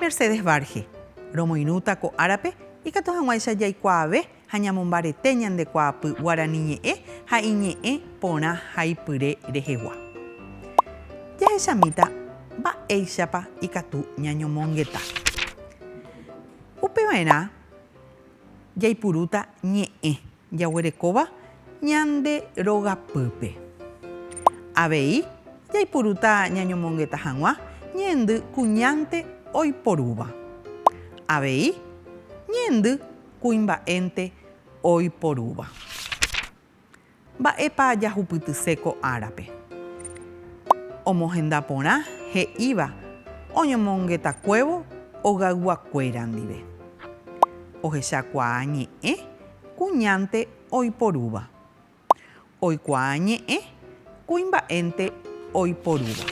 Mercedes Varge, Romoirũta ko árape ikatu hag̃uáicha jaikuaave ha ñamombarete ñande kuaapy guarani ñe'ẽ ha iñe'ẽ porã haipyre rehegua. Jahechamíta mba'éichapa ikatu ñañomongeta. Upevaerã jaipurúta ñe'ẽ. Jaguerekóva ñande rogapýpe. Avei jaipurúta ñañomongeta hag̃ua ñeendy kuñánte oiporúva. Avei ñeendy kuimba'énte oiporúva. Mba'épa jahupytyse ko árape? Omohenda porã he'íva oñomongetakuévo ogaygua kuéra ndive. Ohechakuaa ñe'ẽ kuñánte oiporúva. Oikuaa ñe'ẽ kuimba'énte oiporúva.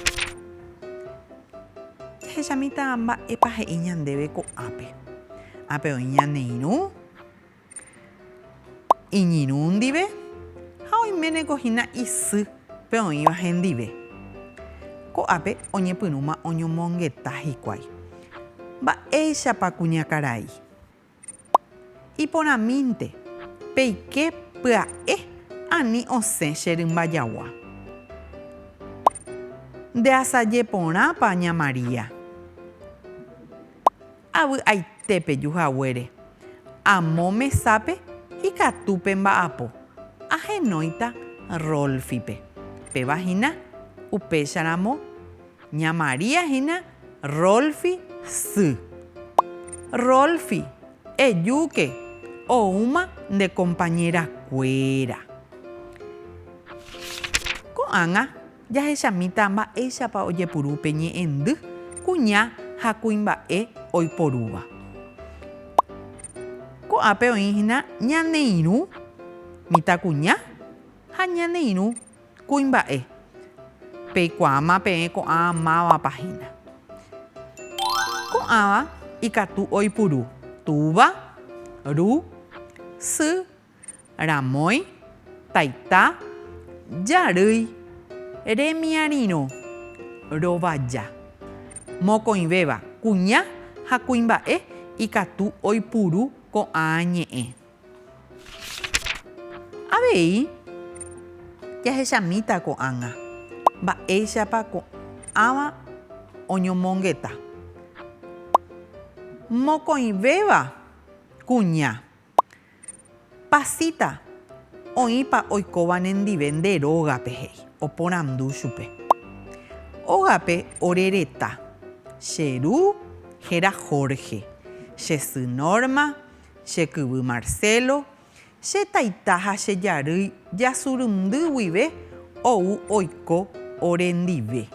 Jahechamíta mba'épa he'i ñandéve ko'ápe. Ápe oĩ ñane irũ, iñirũ ndive ha oiméneko hína isy pe oĩva hendive. Ko'ápe oñepyrũma oñomongeta hikuái. Mba'éichapa kuñakarai? Iporãmínte, peike pya'e ani osẽ che rymba jagua. Ndeasaje porãpa ña María. Avy'aite peju haguére. Amo mesápe ikatu pe mba'apo. Ahenóita Rolfipe. Péva hína, upécharamo. Ña María hína Rolfi sy. Rolfi, ejúke, oúma nde kompañéra kuéra. Ko'ág̃a jahechamíta mba'éichapa ojepuru pe ñe'ẽndy kuña ha kuimba'e oiporúva. Ko'ápe oĩ hína ñane irũ mitãkuña ha ñane irũ Kuimba'e. Peikuaáma peẽ ko'ã mávapa hína. Ko'ãva ikatu oipuru túva, ru, sy, ramói, taita, jarýi, remiarirõ, rovaja. Mokõivéva, kuña ha kuimba'e ikatu oipuru ko'ã ñe'ẽ. Avei jahechamíta ko'ág̃a mba'éichapa ko'ãva oñomongeta. Mokõivéva kuña, Pasita, oĩpa oikóva nendive nde rógape he'i, oporandu chupe. Ógape ore reta, che ru héra Jorge, che sy Norma, Che kyvy Marcelo, che taita ha che jarýi jasurundy guive ou oiko ore ndive.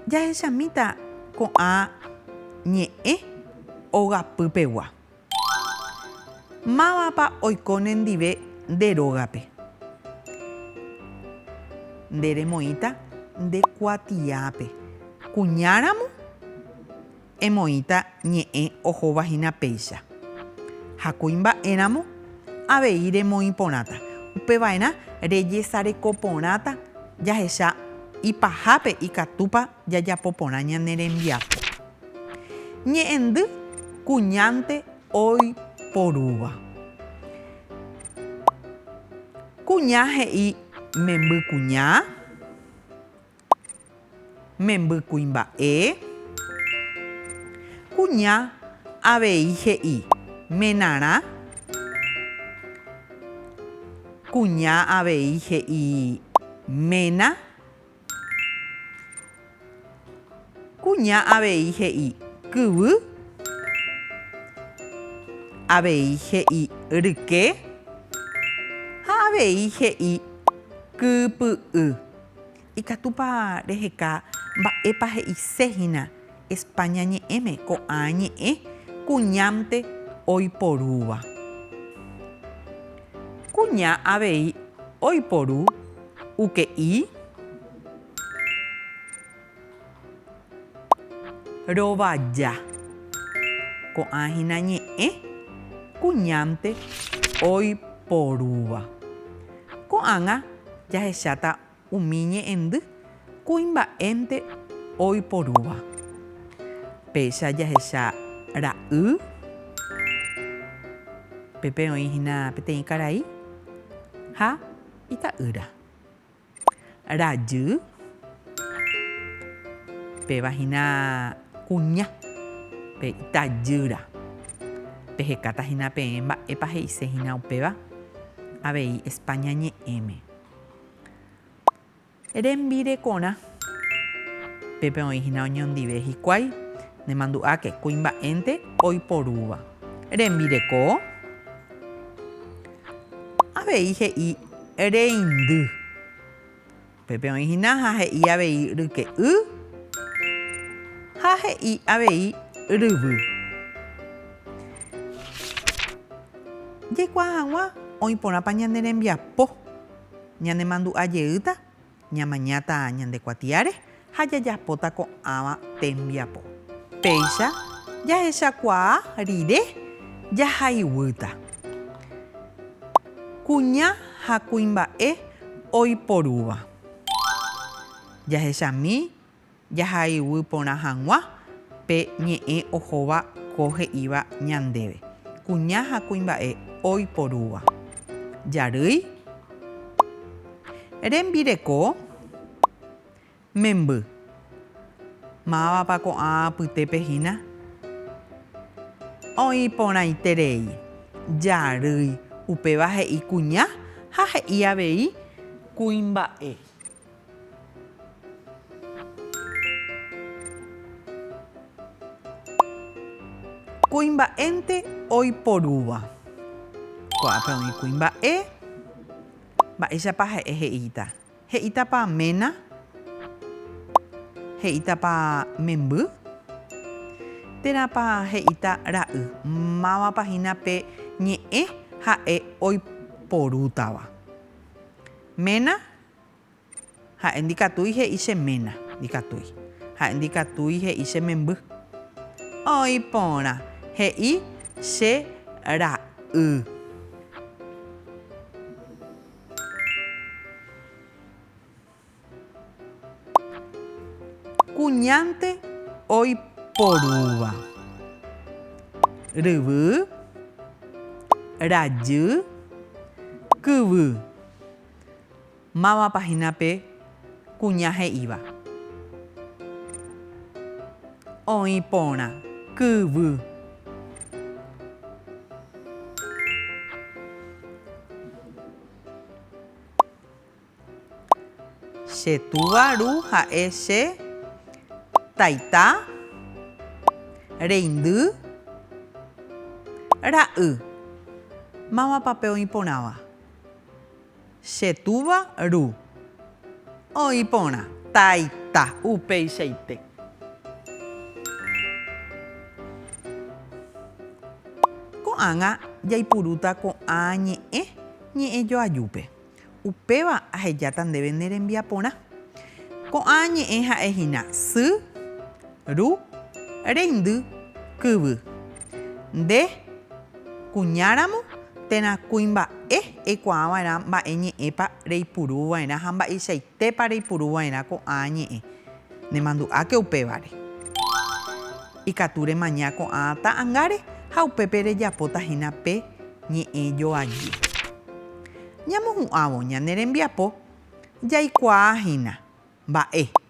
Jahechamíta ko'ã ñe'ẽ ogapy pegua. Mávapa oiko ne ndive nde rógape? Nde remoĩta nde kuatiápe. Kuña ramo? Emoĩta ñe'ẽ ohóva hína péicha. Ha kuimba'éramo avei remoĩ porãta. Upeva'erã rejesareko porãta jahecha ipahápe ikatúpa jajapo porã ñane rembiapo. Ñe'ẽndy kuñánte oiporúva. Kuña he'i memby kuña. Memby kuimba'e. Kuña avei he'i menarã. Kuña avei he'i ména. Kuña avei he'i kyvy. Avei he'i ryke. Ha avei he'i kypy'y. Ikatúpa reheka mba'épa he'ise hína España ñe'ẽme ko'ã ñe'ẽ kuñánte oiporúva. Kuña avei oiporu uke'i. Rovaja. Ko'ã hína ñe'ẽ kuñánte oiporúva. Ko'ág̃a jahecháta umi ñe'ẽndy kuimba'énte oiporúva. Péicha jahecha ra'y, pépe oĩ hína peteĩ karai ha ita'ýra. Rajy. Péva hína kuña, pe itajýra. Pehekáta hína peẽ mba'épa he'ise hína upéva avei España ñe'ẽme. Rembirekorã. Pépe oĩ hína oñondive hikuái, nemandu'áke, kuimba'énte oiporúva. Rembireko. Avei he'i reindy. Upépe oĩ hína ha he'i avei ryke'y ha he'i avei ryvy. Jaikuaa hag̃ua oĩ porãpa ñane rembiapo ñanemandu'a jeýta Ñamañáta ñande kuatiáre ha jajapóta ko'ãva tembiapo. Péicha jahechakuaa rire jahaiguýta kuña ha kuimba'e oiporúva. Jahechami Jahayhuy porã hag̃ua pe ñe'ẽ ohóva ko he'íva ñandéve, kuña ha kuimba'e oiporúva. Jarýi. Rembireko. Memby. Mávapa ko'ã apytépe hína? Oĩ porãiterei. Jarýi. Upéva he'i kuña ha he'i avei kuimba'e. Kuimba'énte oiporúva. Ko'ápe oĩ kuimba'e. Mba'éichapa ha'e he'íta? He'ítapa ména? He'ítapa memby? Térãpa he'íta ra'y? Mávapa hína pe ñe'ẽ ha'e oiporútava? Ména Ha'e ndikatúi he'i che ména, ndikatúi. Ha'e ndikatúi he'i che memby. Oĩ porã, he'i che ra'y. Kuñánte oiporúva. Ryvy, rajy, kyvy. Mávapa hína pe kuña he'íva? Oĩ porã. Kyvy. Che túva Ru ha'e che taita, reindy, ra'y. Mávapa pe oĩ porãva? Che túva Ru. Oĩ porã. Taita. Upeichaite. Ko'ág̃a jaipurúta ko'ã ñe'ẽ ñe'ẽ joajúpe. Upéva ahejáta ndéve ne rembiaporã. Ko'ã ñe'ẽ ha'e hína sy. Ru, reindy, kyvy. Nde, kuñáramo, térã kuimba'e eikuaa va'erã mba'e ñe'ẽpa reipuru va'erã ha mba'eichaitépa reipuru va'erã ko'ã ñe'ẽ. Nemandu'áke upévare. Ikatu remaña ko'ã ta'angáre ha upépe rejapóta hína pe ñe'ẽ joaje. Ñamohu'ãvo ñane rembiapo jaikuaa hína mba'e.